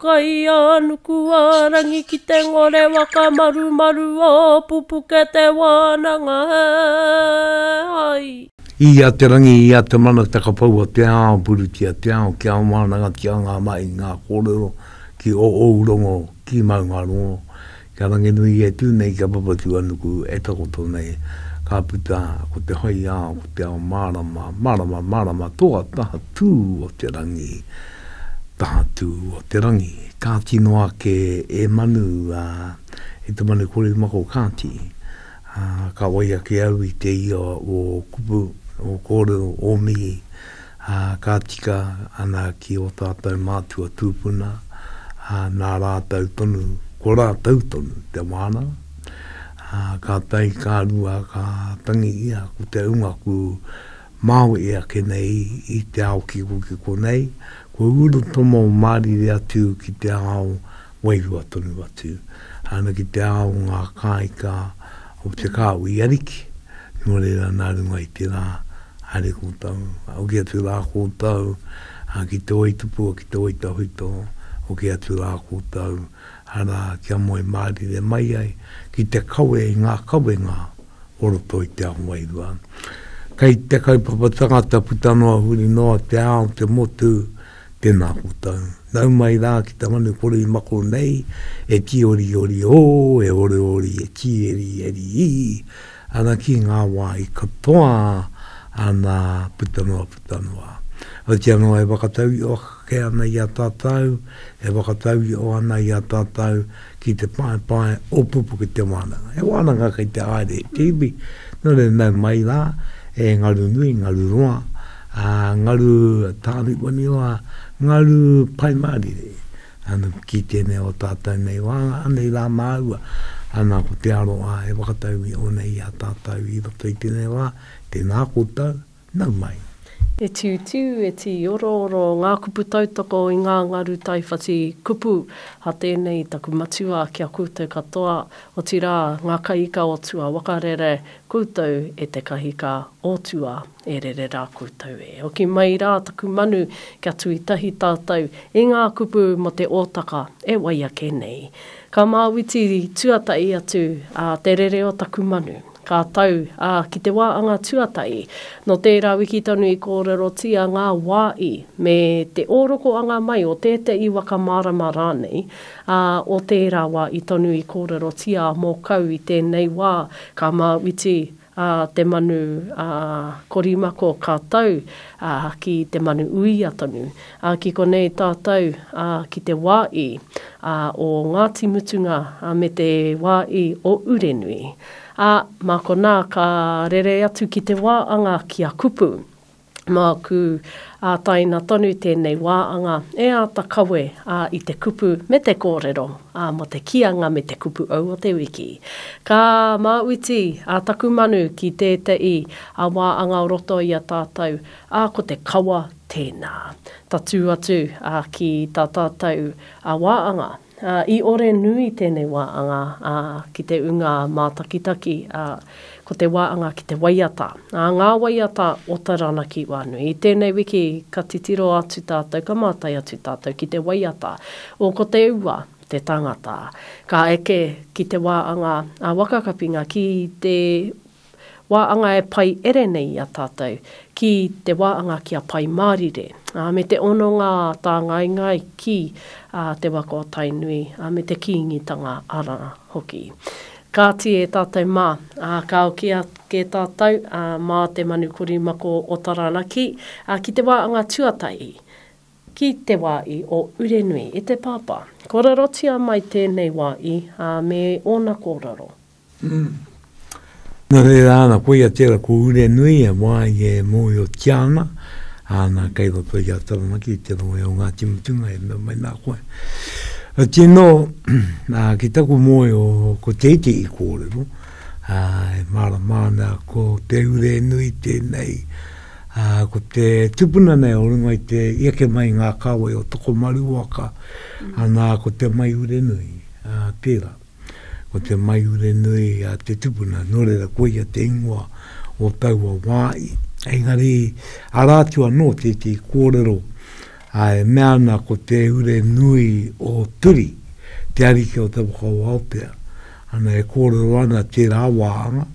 Kaianukuarangi ki te ngore whakamarumaru o pupuke te wānanga he hai. Ia te rangi, ia te mana takapaua te ao purutia te ao kia wānanga ki a ngā mahi ngā kōrero ki o ou rongo ki maunga rongo Ka ranginui ia tū nei ki a Papatūānuku e takoto nei, ka puta ko te haiao, ko te ao mārama, mārama, mārama toa taha tū o te rangi, taha tū o te rangi. Kāti noa ake e Manu, ā, e te manu kore mako kāti, ā, ka wai ake au i te ia o kupu, o kōrero, o mihi. ā, ka tika ana ki ō tātou mātua tūpuna, ā, nā rātou tonu, ko rātou tonu te wānanga, ā, ka tae, ka rua, ka tangi ia ko te hunga kū māu e ake nei i te ao kikokiko nei, kua urutomo mārire atu ki te ao wairua tonu atu, ana ki te ao o ngā kāika o te kāo i Ariki, nō reira nā runga i te rā haere koutou, hoki atu rā koutou ki te oitupua, ki te oitahuito, hoki atu rā koutou, arā, kia moe mārire mai ai, ki te kawe i ngā kawenga o roto i te ao wairua. Kei te kaupapa tangata puta noa huri noa te ao, te motu, Tēnā koutou. Nau mai rā ki te manu korimako nei, e kīoriori ō, e oriori, e kīerieri ī, ana ki ngā wāhi katoa, ana, puta noa, puta noa. Otiia noa e whakatau i o ake ana i a tātou, e whakatau i o ana i a tātou, ki te paepae o Pupuke Te Wānanga. He wānanga kei te haere te iwi, nō reira nau mai rā e Ngarunui, Ngaruroa, ā, Ngaru Tāriwaniwa, Ngaru Paimārire, ā, ki tēnei o tātou nei wā, anei rā māua, ā, nā ko Te Aroha e whakatau i ō nei i a tātou i roto i tēnei wā, tēnā koutou. Nau mai. E tiutiu, e tīorooro ngā kupu tautoko i ngā ngaru taiwhati kupu a tēnei taku matua ki a koutou katoa, otirā, ngā kaiika o tua wakarere, koutou e te kahika o tua e rere rā koutou e oki mai rā taku manu kia tui tahi tātou i ngā kupu mō te ōtaka e wai ake nei. Ka māwiti tuatahi atu te rere o taku manu. Ka tau, ā, ki te wā anga tuatahi, nō tērā wiki tonu i kōrerotia ngā wā i, me te ōrokoanga mai o tētahi waka mārama rānei, ā, o tērā wā i tonu i kōrerotia a Mōkau i tēnei wā, ka māuiti, ā, te manu, ā, korimako ka tau, ā, ki te manu uia tonu. Ā, ki konei tātou, ā, ki te wā i, ā, o Ngāti Mutunga, ā, me te wā i o Urenui. Ā, mā konā ka rere atu ki te wā anga ki a kupu. Māku, ā, taina tonu tēnei wā anga e āta kawe, ā, i te kupu me te kōrero, ā, mō te kīanga me te kupu ou o te wiki. Ka māuiti, ā, taku manu ki tēteī, ā, wā anga o roto i a tātou, ā, ko te kawa, Tēnā. Tatū atu ki tā tātou wāanga. I ore nui tēnei wāanga ki te ūnga mātakitaki, ko te wāanga ki te waiata, ngā waiata o Taranaki wānui. I tēnei wiki ka titiro atu tātou, ka mātai atu tātou ki te waiata o Ko Te Ua te Tangata. Ka eke ki te wāanga waka kapinga ki te wā anga e pai ere nei i a tātou, ki te wā anga ki a Pai Mārire, ā, me te hononga tāngaengae ki Te Waka o Tainui, ā, me te Kīngitanga arā hoki. Kāti e tātou mā, ā, ka oki ake tātou, ā, mā te manu korimako o Taranaki, ā, ki te wā anga tuatahi, ki te wā i o Urenui, e te Pāpā. Kōrerotia mai tēnei wā i, ā, me ōna kōrero. Nō reira ana, koia tērā ko Urenui, he wā i e mōhiotia ana, āna kei roto i a Taranaki, i te rohe o Ngāti Mutunga, e mea mai nā koe. Ā, tino, ā, ki taku mōhio, ko te iti i kōrero, ā, e mārama ana ko te Urenui tēnei, ā, ko te tupuna nei o runga i te, i eke mai i ngā kāwai o Tokomaru waka, ā, nā, ko Te Mai Urenui, ā, tērā. Ko te maiure nui a te tupuna, nō reira koia te ingoa o taua wā. Engari, arā atu anō tētehi kōrero e mea ana ko te ure nui o Turi, te ariki o te waka o Aotea. Ana e kōrero ana tērā wāhanga,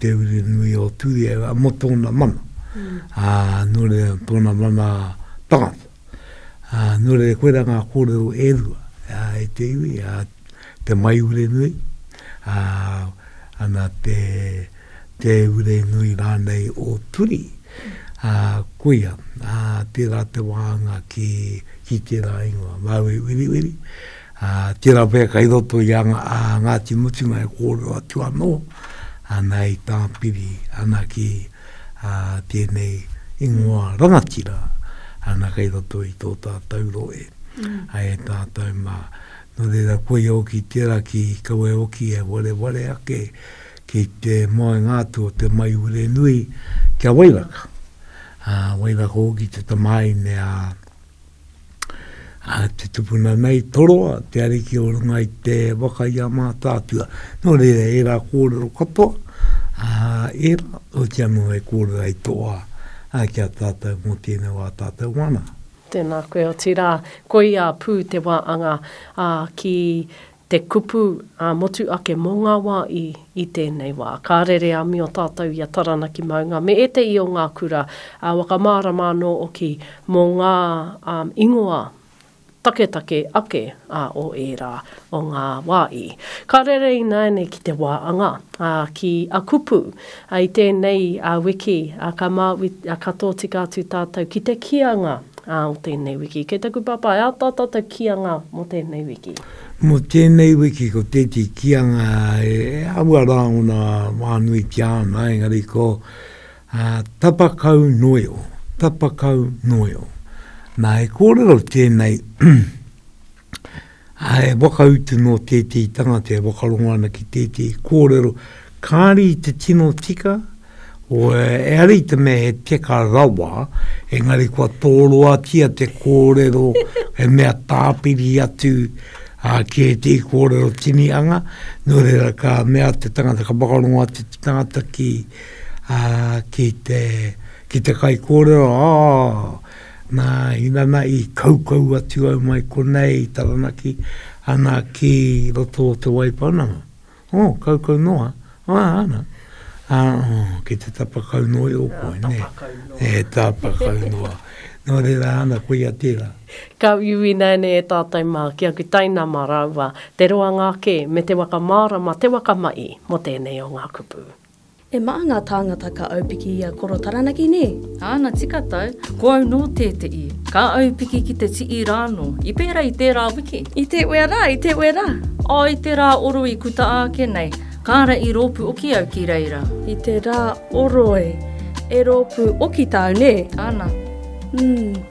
te ure nui o Turi mō tōna mana, nō reira tōna mana tangata. Ā, nō reira, koirā ngā kōrero e rua, ā, e te iwi, ā, te maiurenui, ā, ana te, te urenui rānei o Turi, ā, koia, ā, tērā te wāhanga ki, ki tērā ingoa, Māui Wiriwiri, Ā, tērā pea kei roto i a Ngāti Mutunga e kōrero atu anō ana i tāpiri ana ki tēnei ingoa rangatira ana kei roto i tō tātou rohe. Ai e tātou mā, nō reira koia hoki tērā ki kawe hoki e wareware ake ki te moenga atu o te maiure nui kia wairaka. Ā, wairaka hoki te tamāhine a. Ā, te tupuna nei, Toroa, te ariki o runga i te waka i a Mātaatua. Nō reira, ērā kōrero katoa, ā, ērā, oti anō e kōrero ai tō wā, ā, ki a tātou mō tēnei wā tātou wānanga. Tēnā koe, otirā, koia pū te wāanga, ā, ki Te kupu ā-motu ake mō ngā wā i i tēnei wā. Ka rere a Mio tātou i a Taranaki maunga me ētehi o ngā kura whakamārama anō oki mō ngā ingoa taketake ake o ērā o ngā wā i. Ka rere ināianei ki te wā anga, ki a kupu. I tēnei wiki, ka māui, ka tōtika atu tātou ki te kīanga o tēnei wiki. Kei taku pāpā, e āta tātou kīanga mō tēnei wiki? Mō tēnei wiki, ko tēti kīanga e āhua rāngona whānuitia ana, engari ko Tapa Kau Noeo, Tapa Kau Noeo. Nā, he kōrero tēnei, He whakautu nō tētehi tangata e whakarongo ana ki tētehi kōrero, kāre i te tino tika, e ara i te mea he teka rawa, engari kua tōroatia te kōrero, he mea tāpiri atu ki ētehi kōrero tinihanga, nō reira ka mea te tangata, ka whakarongo atu te tangata ki te kaikōrero, ā, Nā, inana i kaukau atu au mai konei i Taranaki, ana ki roto o Te Waipounamu. Oh, kaukau noa. Ah, ana. Ah, oh, ki te tapa kau noa i Ōpoi, nē. Tapa kau noa. E, tapa kau noa. Nō reira, ana, koia tērā. Ka uiui nāianei e tātou mā, ki aku tainama rāua, te roanga ake me te waka mārama, te waka maʻi mō tēnei o ngā kupu. E maha nga tāngata ka aupiki i a Koro Taranaki nē? Āna tika tau, ko au nō tēteʻi. Ka aupiki ki te tii rā nō. I pēra i tērā wiki? I te wea rā, i te wea rā. O, i te rā oro i kuta āke nei. Kāra i rōpu oki au ki reira. I te rā oro e. E rōpu oki tāu nē? Āna. Umm.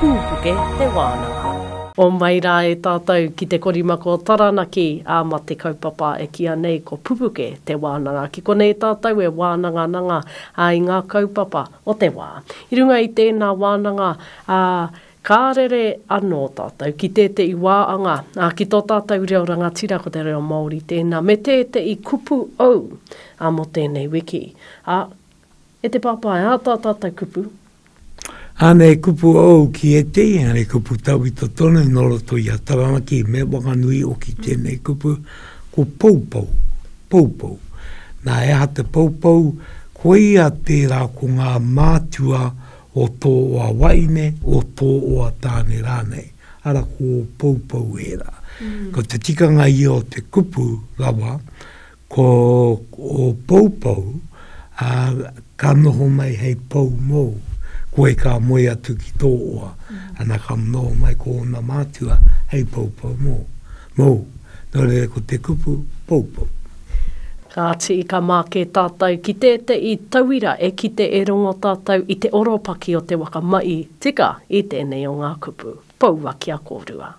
Pūpuke te wānanga. Homai rā e tātou ki te korimako o Taranaki, ā, mā te kaupapa e kīa nei ko Pupuke te wānanga. Ki konei tātou e wānangananga a i ngā kaupapa o te wā. I runga i tēnā wānanga, ā, ka rere anō tātou ki tēteʻi wā anga, ā, ki tō tātou reo rangatira ko te reo Māori tēnā, me tēteʻi kupu ou, ā, mō tēnei wiki, ā, E te Papa, e āta tātou kupu. Āna e kupu ōu ki ētehi engari kupu tauito tonu nō roto i a Taranaki me Wanganui oki tēnei kupu ko Poupou, Poupou. Nā e aha te Poupou? Koia tērā ko ngā mātua o tō oa waine, o tō oa tāne rānei. Ara ko Poupou ērā. Ko te tikanga ia o te kupu rawa, Ko ō poupou, ā, ka noho mai hei pou mōu, koe ka moe atu ki tō oa, ana ka noho mai ko ōna mātua hei poupou mō, mōu. Nō reira ko te kupu, poupou. Kāti, ka māke tātou ki tēteʻi tauira e kite e rongo tātou i te oropaki o te waka maʻi tika i tēnei o ngā kupu, poua kia kōrua.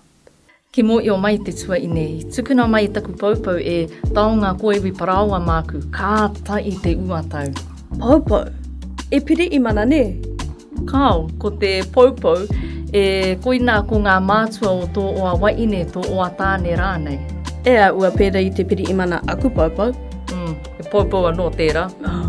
Ki Moio mai te tuaine, i tukuna mai taku poupou e Taonga Koiwi Paraoa māku, ka ata i te ua tau. Poupou! E piri i mana nē? Kāo, ko te poupou, e koinā ko ngā mātua o tō oa waine, tō oa tāne rānei. E āua pērā i te piri i mana aku poupou. Mm, he poupou anō tērā. Oh.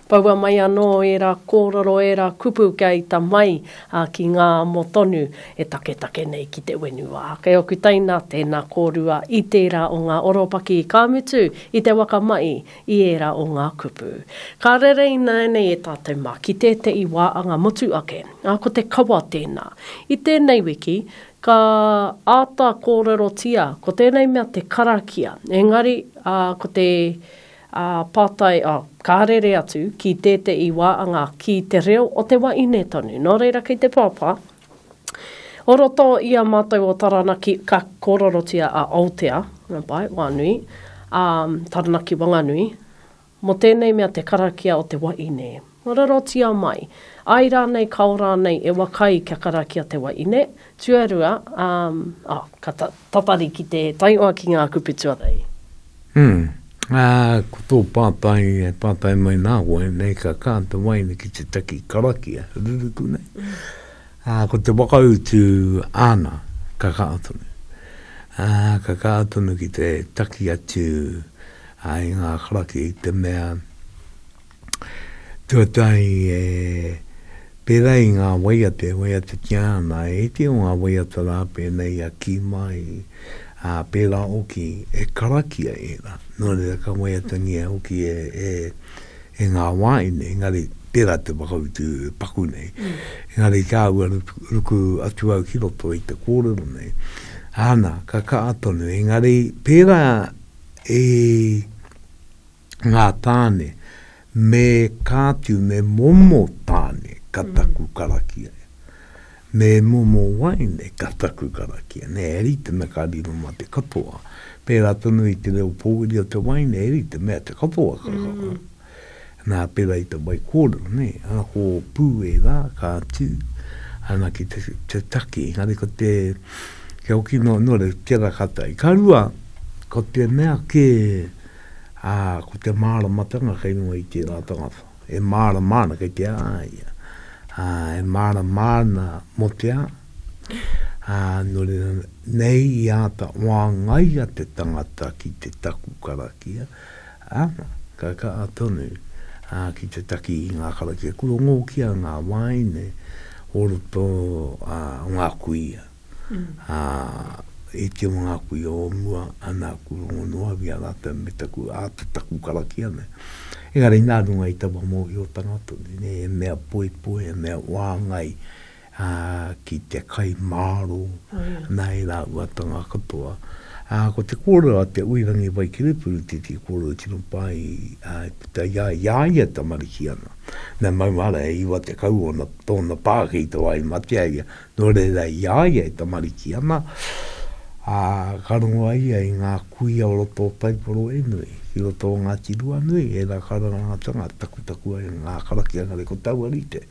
Poua mai anō ērā kōrero, ērā kupu kia ita mai, ā, ki ngā amo tonu e taketake nei ki te whenua. Kei oku teina tēnā kōrua i tērā o ngā oropaki, ka mutu, i te waka mai i ērā o ngā kupu. Ka rere ināianei e tātou mā ki tētehi wā anga motu ake, ā, ko te kawa tēnā. I tēnei wiki, ka āta kōrerotia ko tēnei mea te karakia, engari, ā, ko te Ā, pātai, ā, ka rere atu ki tēteī wā, anga, ki te reo o te wa ine tonu. Nō reira kei te pāpā, o roto i a mātou o Taranaki, ka kōrerotia a Aotea, Marae, Wānui, ā, Taranaki Wanganui, mō tēnei mea te karakia o te wa ine. Mararotia mai. Ai rānei kao rānei e waka ai kia karakia te wahine, tuarua, ā, oh, ka ta, tatari ki te taioa ki ngā kupu tuarei. Umm, ā, ko tō pātai e pātai mai nā koe, nei ka kā te wahine ki te taki karakia, ruruku nei, ā, ko te whakautu āna, ka kā tonu. Ā, ka kā tonu ki te taki atu, ā, i ngā karakia i te mea, Tuatahi e pērā i ngā waiata e waiatatia ana, e iti o ngā waiata rā pēnei i a Kīmai, ā, pērā hoki e karakia ērā, nō reira ka waiatangia hoki e ngā wāhine, engari tērā te whakautu e paku nei. Engari kāua ruku atu au ki roto i te kōrero nei. Āna, ka kaha tonu, engari pērā i ngā tāne, me ka tiu, me momo tāne ka taku karakia. Me momo waeine ka taku karakia. Nē, e rite me ka riro mā te katoa. Pērā tonu i te reo pōuri o te waeine, e rite mea te katoa ka kaha. Nā, pērā i te waikōrero, nē, a, ko Pū ērā, ka tū, ana ki te, te take. Engari ko te, kia hoki noa, nō reira, tērā ka tae. Ka rua, ko te mea kē, ā, ko te māramatanga kei runga i tērā tangata, e mārama ana kei te a ia, ā, e mārama ana mō te a, ā, nō reira, nei i āta whāngaia te tangata ki te taku karakia, ā, ka kaha tonu, ā, ki te taki i ngā karakia, kua ngōkia ngā wāhine o roto, ā, o ngā kuia. ā, e te o ngā kuia o mua, ana aku rongo noa au i a rātou me taku āta taku karakia nei. Engari nā runga i taua mōhiotanga tonu nei, he mea poipoi, he mea whāngai, ā, ki te kai māro, nā e rāuatanga katoa. Ā, ko te kōrero a Te Uirangi Waikirepuru tētehi kōrero e tino pā ai, ā, i puta i a ia, i a ia e tamariki ana. Nā, maumahara, e iwa tekau ōna, tōna pā kei te wā i matea ia. Nō reira, i a ia e tamariki ana, ā, ka rongo a ia i ngā kuia o roto o Taiporoenui, ki roto o Ngāti Ruanui, ērā karangatanga takutaku ai ngā karakia engari ko taua rite,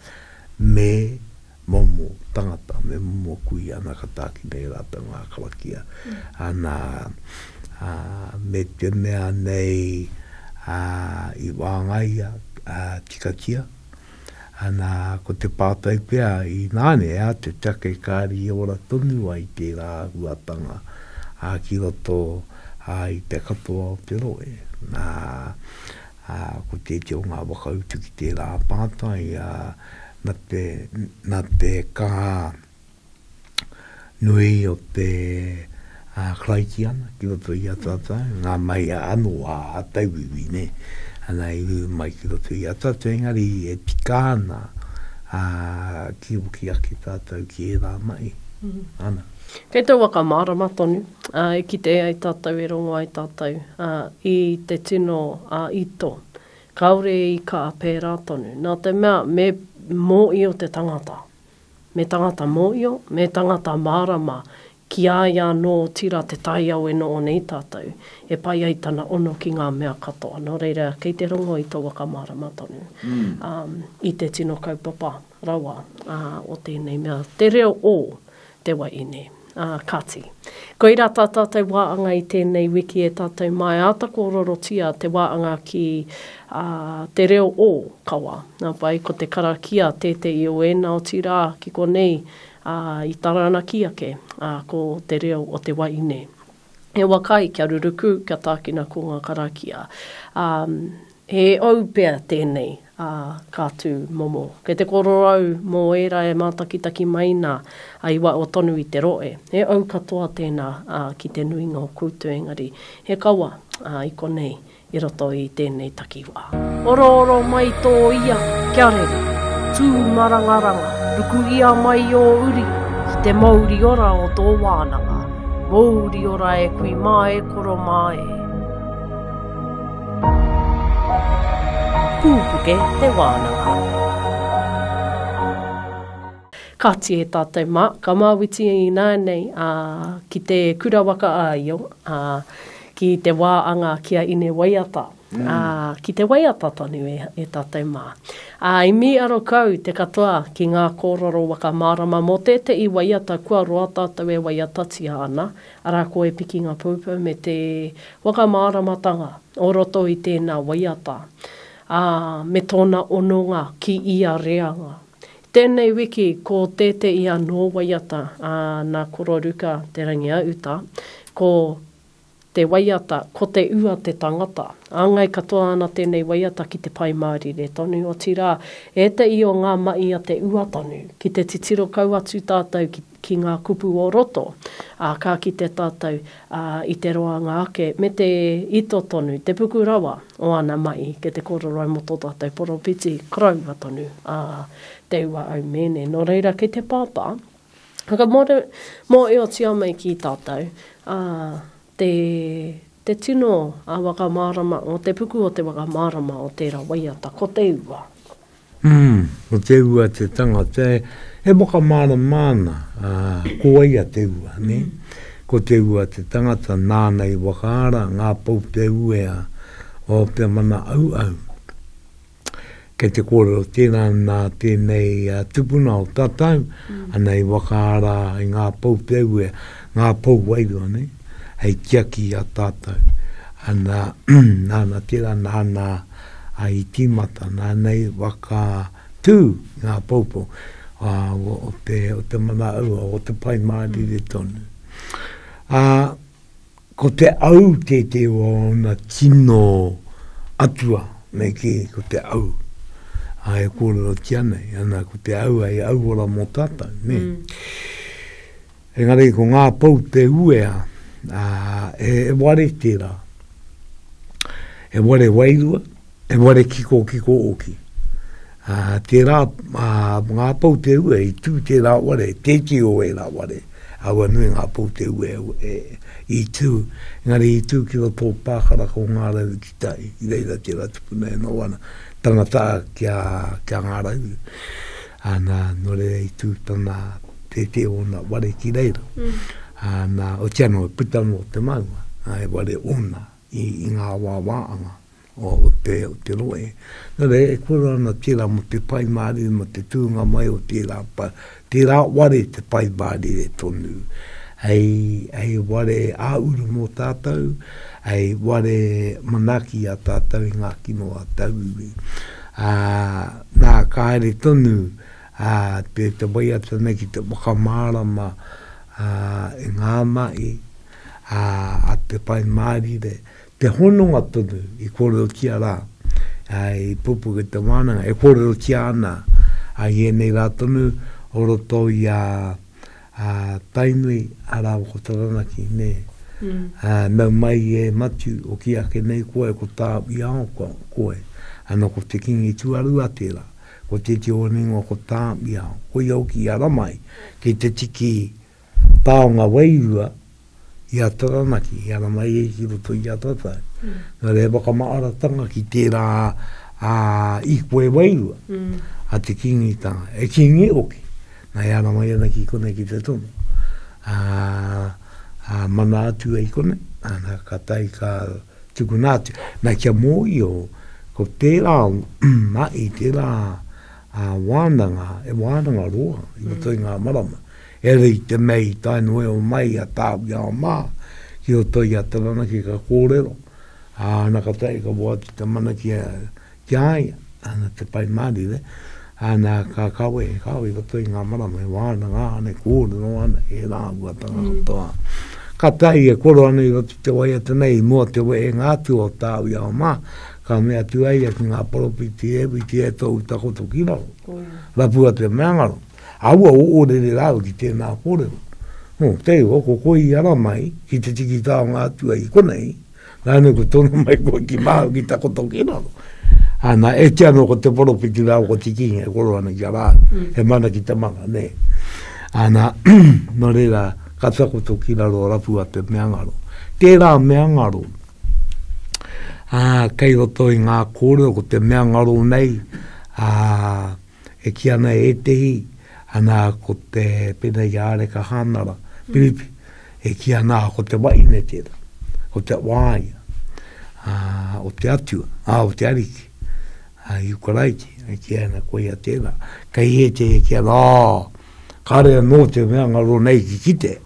me momo tangata, me momo kuia, nā ka tākina e rātou ngā karakia, ana, ā, me te mea nei, ā, i wāngaia, ā, tikatia. Ana, ko te pātai pea, inānea te take kāri e ora tonu ai tērā āhuatanga ā ki roto ā i te katoa o te rohe. Nā, ā, ko tētehi o ngā whakautu ki tērā pātai, ā, na te, na te kaha, nui o te Karaitiana ki roto i a tātou, ngā maia anō a tauiwi, nē, ana i ū mai ki roto i a tātou, engari e tika ana kia hoki ake tātou ki ērā mahi. Ana. Kei te waka mārama tonu, e kitea ai tātou, e rongo ai tātou i te tino ito, kāore i kaha pērā tonu, nā te mea me mōhio te tangata, Me tangata mōio, me tangata mārama, ki a ia anō otira te taiao e noho nei tātou, e pai ai tana ono ki ngā mea katoa. Nō reira, kei te rongo i tō whakamārama tonu i te tino kaupapa rawa o tēnei mea, te reo o te wahine. Ā kāti, koirā tā tātou wāanga i tēnei wiki e tātou māi āta kōrorotia te wāanga ki te reo o kawa. Nā wai, ko te karakia tētehi o ēnā otirā ki konei i Taranaki ake, ko te reo o te wahine. He waka ai kia ruruku, kia tākina ko ngā karakia. He ou pea tēnei, ā, ka tū momo. Kei te kororau mō ērā e mātakitaki mai nā, ā, i waho tonu i te rohe. He ou katoa tēnā, ā, ki te nuinga o koutou engari, he kawa, ā, i konei, i roto i tēnei takiwā. Orooro mai tō ia, kia rere. Tū marangaranga, rukuhia mai ō uri ki te mouri ora o tō wānanga. Mouri ora e kui mā e koro mā e. Pūpuke te wānanga. Kāti e tātou mā, ka māwiti ināianei ki te Kura Waka a Io, ki te wā anga ki a Ine Waiata, ki te waiata tonu e tātou mā. I mīaro kau te katoa ki ngā kōrero whakamārama mō tētehi waiata kua roa tātou e waiatatia ana, Arā ko e pikinga poupou me te whakamāramatanga o roto i tēnā waiata, ā, me tōna ononga ki ia reanga. I tēnei wiki ko tētēi anō waiata a Nā Koro Ruka Te Rangiauta, ko te waiata Ko Te Ua te Tangata. Āngai katoa ana tēnei waiata ki te Pai Mārire tonu, otirā, ēteī o ngā mahi a Te Ua tonu, ki te titiro kau atu tātou ki. ki ngā kupu o roto, ā, ka kite tātou i te roanga ake me te ito tonu, te puku rawa o ana mahi ki te kōrero mō tō tātou poropiti koroua tonu a Te Ua Aumēne. Nō reira, kei te pāpā, whakamōreotia mai ki tātou, ā, Te Te tino a whakamārama o te puku o te whakamārama o tērā waiata ko te ua. Umm, ko te ua te tangata e, e whakamārama ana, ā, ko wai a te ua, nē? Ko te ua te tangata nāna i whakaara ngā pou te uea o te mana auau. Kei te kōrero tēnā nā tēnei tupuna o tatau, mm. ana i wakaara i ngā pou te ue, ngā pou wairua nei, hei tiaki a tatau. Ana, nāna tērā, nāna a i tīmata, nāna i waka tū ngā poupo a, o, o, te, o te mana aua, o te pai mārire mm. tonu. A, Ko te au tētē o ōna tino atua nei kē, ko te au. Ā, e kōrerotia nei, ana, ko te au hei au ora mō tātou, nē. Engari ko ngā pou te uea, ā, he ware tērā. He ware wairua. He ware kikokiko hoki. Ā, tērā, ā, ngā pou te ue i tū tērā ware, tēti o ērā ware, aua nui ngā pou te ue e, i tū, engari i tū ki roto o Pākaraka o Ngā Rauru ki tai, i reira tērā tupuna e noho ana, tangata ki a, ki a Ngā Rauru. Ā, nā, nō reira i tū tana tēti o ōna ware ki reira. Ā, nā, otiano e puta noa te maunga, ā, he ware ōna. i ngā wāwā anga o te o te rohe. Nō reira, e kore ana tērā mō te Pai Mārire, mō te tūnga mai o tērā Pai, tērā ware te Pai Mārire tonu, hei, hei ware ā-uru mō tātou, hei ware manaaki i a tātou i ngā kino a tauiwi. Ā, nā, ka haere tonu ā, te, te waiata nei ki te whakamārama ā, i ngā mahi, ā, a Te Whai Mārire, te hononga tonu i kōrerotia rā, ā, i pupuk e te wānanga, e kōrerotia ana a ienei rā tonu o roto i a, a Tainui, arā, ko Taranaki, nē. Ā, nau mai e Matiu, hoki ake nei koe, ko tāu i ao ko, koe, ana ko te kīngi tuarua tērā, ko tētehi o rānei ingoa ko tāu i ao, koia hoki i ara mai, ki te tiki taonga wairua i a Taranaki, i a Ramaire ki roto i a Tata. Mm. Nā reira whakamaaratanga ki tērā a Ikwe wairua, mm. a te kingitanga, e kingi oki. Nā ia rama iana ki kone ki te tono. A, a mana atu ai kone, ana ka tai ka tukuna atu. Nā kia mōio, ko tērā mai, tērā ā-wānanga, he wānanga roa i roto i ngā marama, heoi i te mea i tae noa iho mai i a Tāwhiao mā ki roto i a Taranaki ka kōrero, ā, ana ka tahi ka whai atu te mana ki a ia, ana te Pai Mārire, ana ka kawe, he kawe i roto i ngā marama, he wānanga ana, he kōrero ana, he rāhuatanga katoa. Ka tahi e koro ana i roto i te waiata nei i mua o te wehenga atu o Tāwhiao mā, Ka mea atu a ia ki ngā poropiti, E whiti e tōu takoto ki waho, rapua te mea ngaro. Aua o orere rāua ki tēnā kōrero. Nō, kei roa, ko koe i ara mai ki te tiki taonga atua i konei, rānei kua tono mai koe ki waho ki takoto ki raro. Ana, e kī anō ko te poropiti rāua ko te kīngi e koro ana ki a rāua, he mana ki te mana, nē. Ana, nō reira, ka takoto ki raro, rapua te mea ngaro. Tērā mea ngaro, ā, kei roto i ngā kōrero, ko te mea ngaro nei, ā, e kī ana e ētehi, ana, ko te, pēnei ki a Areka Hānara, Piripi, e kī ana, ko te wahine tērā, ko te wāea, ā, o te Atua, ā, o te Ariki, ā, Ihu Karaiti, e kī ana, koia tērā. Kei ētehi e kī ana, ā, Kāre anō te mea ngā rō nei ki kite,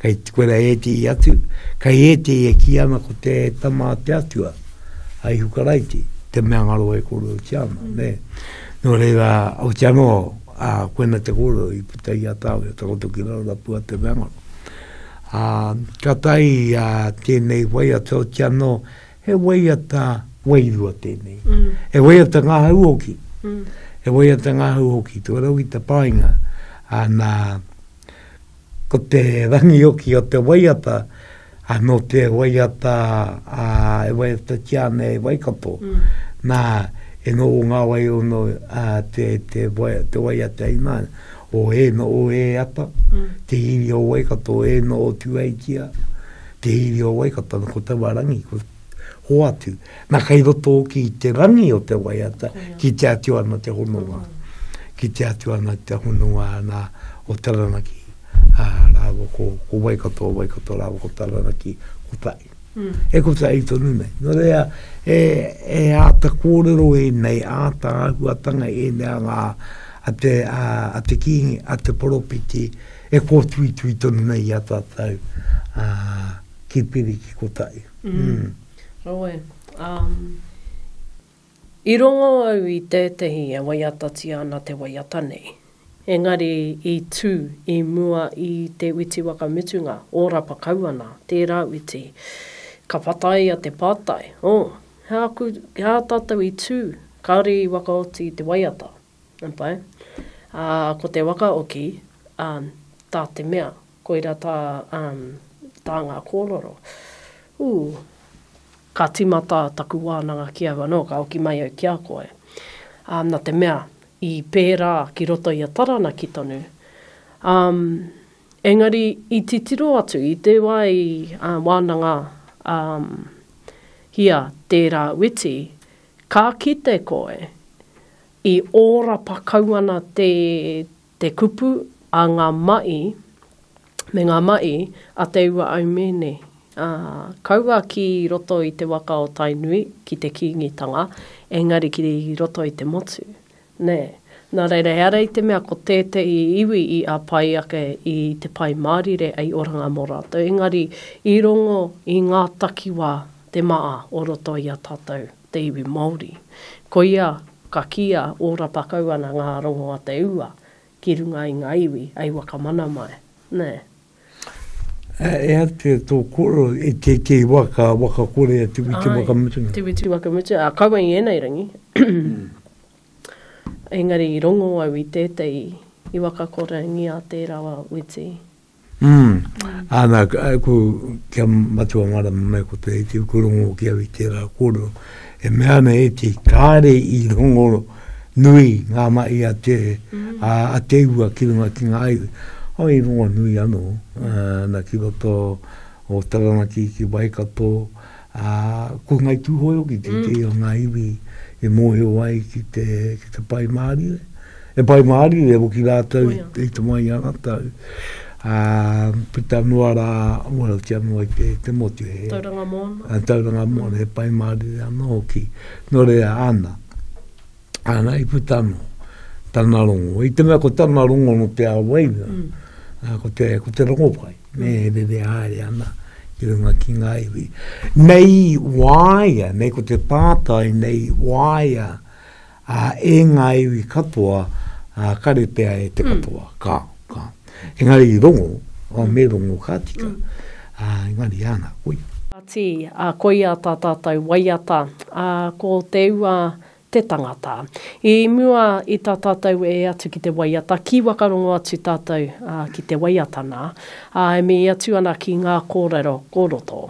kei te koera ēti i atu, kei ēti e ki ana ko te tama te atua, ai hukaraiti, te mea ngā rō e kōrero ki ana, mm. ne. Nō reira, o te anō, a koena te kōrero i puta i a tāwe, takoto ki rau rapua te mea ngaro. A, ka tai a tēnei wai atu, o te anō, He waiata wairua tēnei. He waiata ngahau hoki. He waiata ngahau hoki. Tō rau i te painga. Ana, ko te rangi hoki o te waiata, anō te waiata, e waiata tia ana e Waikato. Nā, e nō o ngā wai o nō te, te, te waiata i nā, o e nō o e ata, te iwi o Waikato e nō o Tūheitia. Te iwi o Waikato, ana ko te wā rangi, ko hoatu. Na, kei roto hoki i te rangi o te waiata, kitea atu ana te hononga. Kitea atu ana te hononga ana o Taranaki, a, rāua ko, ko Waikato, a Waikato rāua ko Taranaki, kotahi. Mm. E kotahi tonu nei. No rea, e, e āta kōrero e nei, āta āhuatanga e nei a ngā, a te, a, a te kīngi, a te poropiti, E kōtuitui tonu nei i a tātou ki Piri, ki Kotahi. Heoi, i rongo au i tētehi e waiatatia ana te waiata nei, engari i tū i mua i te uiti wakamutunga, ōrapa kau ana tērā uiti. Ka whataia te pātai, oh, he aha tātou i tū, kāore i wakaoti te waiata? Pai. Ā, ko te waka oki, ā, tā te mea, koira tā, ā, tā ngā kōrero. Ū, ka tīmata taku wānanga ki au anō, ka oki mai au ki a koe. Ā, nā te mea, i pērā ki roto i a Taranaki tonu. Ā, engari i titiro atu, i te wā i, ā, wānanga, ā, hia tērā witi, Ka kite koe, i ōrapa kau ana te te kupu a ngā maʻi me ngā maʻi a Te Ua Aumēne, ā, kaua ki roto i te waka o Tainui ki te Kīngitanga, engari ki roto i te motu. Nē. Nā reira, ehara i te mea ko tētehi iwi i āpai ake i te Pai Mārire hei oranga mō rātou, engari i rongo i ngā takiwā te maʻa o roto i a tātou te iwi Māori. Koia ka kīia ōrapa kau ana ngā rongo a te ua ki runga i ngā iwi hei wakamana mai. Nē. E atu e tō koro, e tētehi wā ka wakakore atu i te wakamutunga. Āe, te witi wakamutu, ā, kaua i ēnei rangi. Engari i rongo au i tētehi i wakakorengia te rawa witi. Umm, ā, nā, ko, kia Matua Marama mai ko Te Iti, ko rongo hoki au i tērā kōrero. E mea ana e te kāre i rongo nui ngā mahi a te, mm. a, a te ua ki runga ki ngā iwi. O i rongo nui anō, uh, na ki roto o Taranaki ki Waikato, a, ko Ngai Tūhoe hoki te mm. o ngā iwi e mōhio ai ki te, ki te pai mārie. He pai mārie e hoki rātou i te mai ana tau, ā, puta noa rā, uaratia noa i te motu. He. Tauranga mōna. Tauranga mōna, he pai mārie anō hoki. Nō reira, ana, ana i puta anō tana rongo. I te mea ko tana rongo no te ao waina, ā, ko te, ko te rongo pai, me he rere haere ana ki runga ki ngā iwi. Nei waia, nei ko te pātai, nei waia, Ā, e ngā iwi katoa, ā, kare pea e te katoa. Ka, ka. Engari i rongo, ā, me rongo ka tika. Ā, engari āna, koia. Ati, ā, koia tā tātou waiata, ā, ko te ua te tangata. I mua i tā tātou e atu ki te waiata, kī wakarongo atu tātou, ā, ki te waiata nā, ā, e mii atu ana ki ngā kōrero kōroto.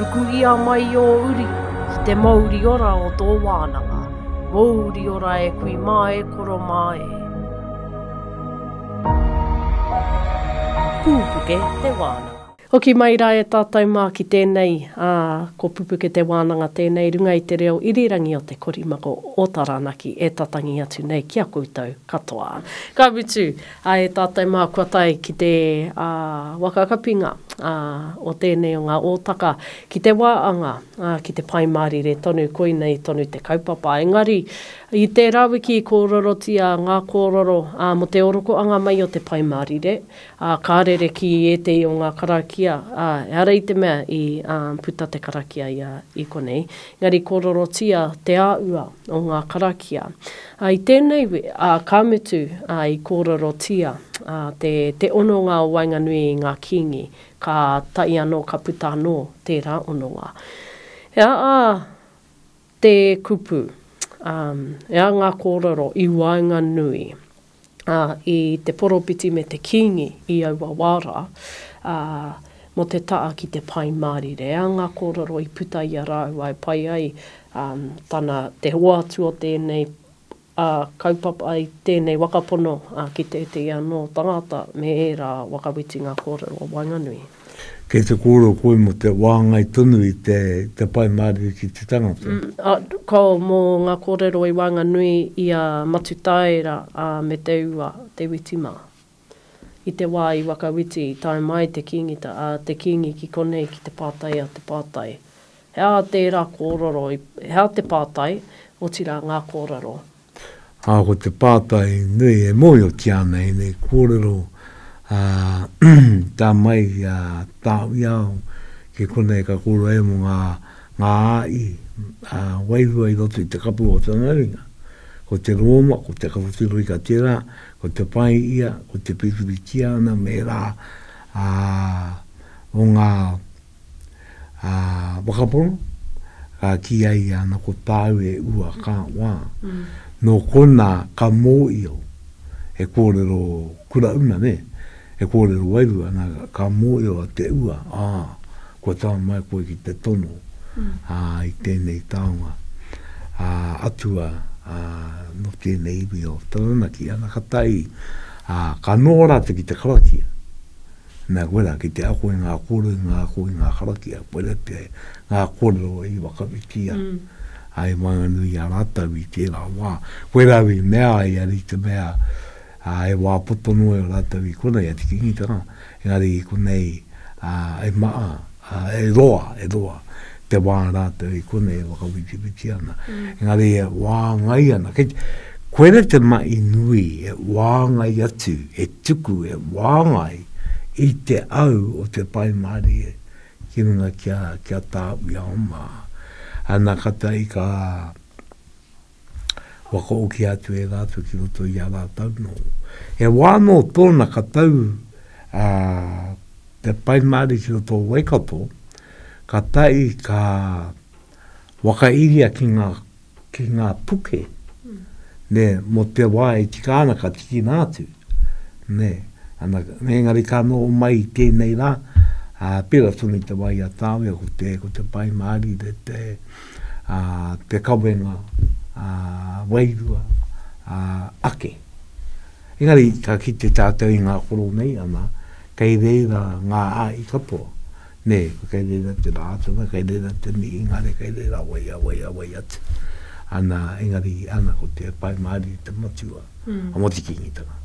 Ruku ia mai i ō uri ki te mouri ora o tō wānanga, mouri ora e kui mā e koro mā e. Pūpuke te wānanga. Hoki mai rā e tātou mā ki tēnei, ā, ko Pupuke te wānanga tēnei runga i te reo irirangi o te korimako o Taranaki e tatangi atu nei ki a koutou katoa. Ka mutu, A e tātou mā kua tae ki te waka kapinga o tēnei o ngā ōtaka ki te wā anga, ki te Pai Mārire tonu, koinei tonu te kaupapa. Engari, i tērā wiki i kōrerotia ngā kōrero mō te orokoanga mai o te Pai Mārire, ka rere ki ētehi o ngā karakia, ehara i te mea i puta te karakia ia i konei, engari kōrerotia te āhua o ngā karakia. Ā, i tēnei wē, ā, ka mutu, ā, i kōrerotia, ā, te, te hononga o waenganui i ngā kīngi, ka tae anō, ka puta anō tērā hononga. Ea, ā, te kupu, ā, ea ngā kōrero i waenganui, ā, i te poropiti me te kīngi i aua wā rā, ā, mō te taha ki te Pai Mārire. Ā, ngā kōrero i puta i a rāua e pai ai, ā, tana, te hoatu o tēnei, ā, kaupapa, ai tēnei waka pono, ā, ki tētehi anō tangata me ērā waka witi ngā kōrero o waenganui. Kei te kōrero koe mō te wāngai tonu i te, te pae mārire ki te tangata. Ko mō ngā kōrero i waenganui i a Matutaera a me Te Ua, Te Witi mā. I te wā i Wakawiti i tae mai te Kīngita, a, te Kīngi ki konei ki te pātai a te pātai, He aha tērā kōrero i, he aha te pātai, otirā ngā kōrero Ā, ko te pātai nui e mōhiotia ana ēnei kōrero, ā, tā mai i a Tāwiao ki konei ka kōrero ai mō ngā, ngā āi, ā, wairua i roto i te kapu o tana ringa. Ko te rōma, ko te kapotiroika tērā, ko te pai ia, ko te piripiritihana me ērā, ā, o ngā. ā, whakapono, ka kīia ia ana ko tāu e ua ka wā, nō konā ka mōio he kōrero kura una, nē, he kōrero wairua ana, ka mōio te ua, ā, kua tae mai koe ki te tono, ā, i tēnei taonga, ā, atua, ā, nō tēnei iwi o Taranaki, ana ka tahi, ā, ka noho rātou ki te karakia. Nā koe rā, ki te ako i ngā kōrero, i ngā ako, i ngā karakia, koirā pea e, ngā kōrero i whakawhitia ai i waenganui i a rātou i tērā wā. Koirā au i mea ai, a Rita Mea, ā, he wā poto noa i a rātou i konei, a Te Kingitanga, engari i konei, ā, e maha. Ā, e roa, e roa te wā rātou i konei e whakawitiwiti ana. Engari e whāngai ana. Kei, koe ra te mahi nui e whāngai atu, e tuku, e whāngai i te au o te Pai Mārire ki runga ki a, ki a tāu i a oma. Ana, ka tahi ka, Waka oki atu e rātou ki roto i a rātou nō. He wā nō tōna ka tau a te Pai Māori ki roto o Waikato, ka tae ka whakairia ki ngā, ki ngā puke, ne, mō te wā e tika ana ka tikina atu. Ne, ana, engari ka noho mai i tēnei rā, ā, pērā tonu i te wā i a Tāwea, ko te, ko te Pai Māori, te, te, ā, te kawenga, ā, wairua, ā, ake. Engari, ka kite tātou i ngā koro nei, ana, kei reira ngā āi katoa, nē, kei reira te Rātana, kei reira te Mihingare, kei reira wai a wai a wai atu. Ana, engari, ana, ko te Pai Mārire te matua a Motu-kīngitanga.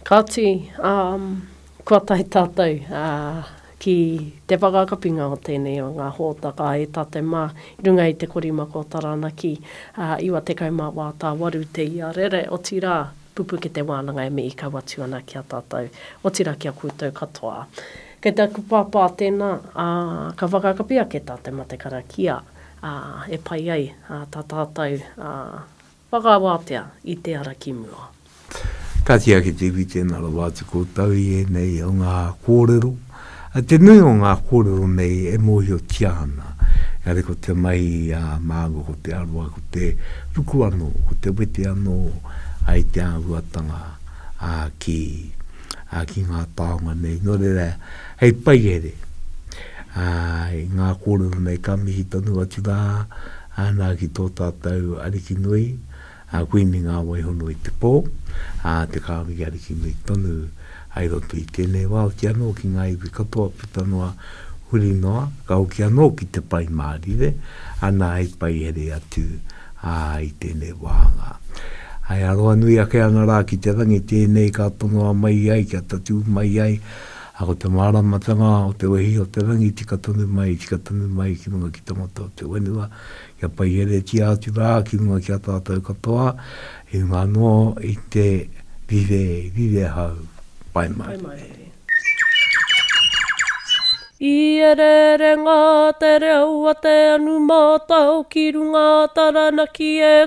Kāti, ā, kua tae tātou, ā, Ki te whakakapinga o tēnei o ngā hōtaka e tate mā i runga i te korimako o Taranaki, ā, 98 tāwaru te iarere, otirā, pupu ki te wānanga e mihi kau atu ana ki a tātou, otirā ki a koutou katoa. Kei te aku pāpā tēnā, ā, ka whakakapi ake tā te matekara kia, ā, e pai ai, ā, tā tātou, ā, Whakawātea i te ara ki mua. Kāti ake te iwi tēnā rawa atu koutou i ēnei o ngā kōrero. Te nui o ngā kōrero nei e mōhiotia ana, engari ko te mahi a māua ko te aroha, ko te ruku anō, ko te wete anō i te āhuatanga ki ngā taonga nei. Nō reira, hei paihere i ngā kōrero nei ka mihi tonu atu rā. Ana ki tō tātou Ariki nui, a Kuini Ngāwaihono i te pō, ā, te Kāwiri Ariki nui tonu hai roto i tēnei wā, hoki anō ki ngā iwi katoa puta noa, huri noa, ka hoki anō ki te Pai Mārire, ana hai paihere atu, ā, i tēnei wāhanga. Hai aroha nui ake ana rā ki te rangi tēnei ka tonoa mai ai, kia tatū mai ai, A ko te māramatanga o te wehi o te rangi tika tonu mai, tika tonu mai ki runga ki te ngota o te whenua, kia paiheretia atu rā ki runga ki a tātou katoa, i runga anō i te rire, rire hau. Pai mārire. I ereere ngā te reo a te anumatao ki runga a Taranaki e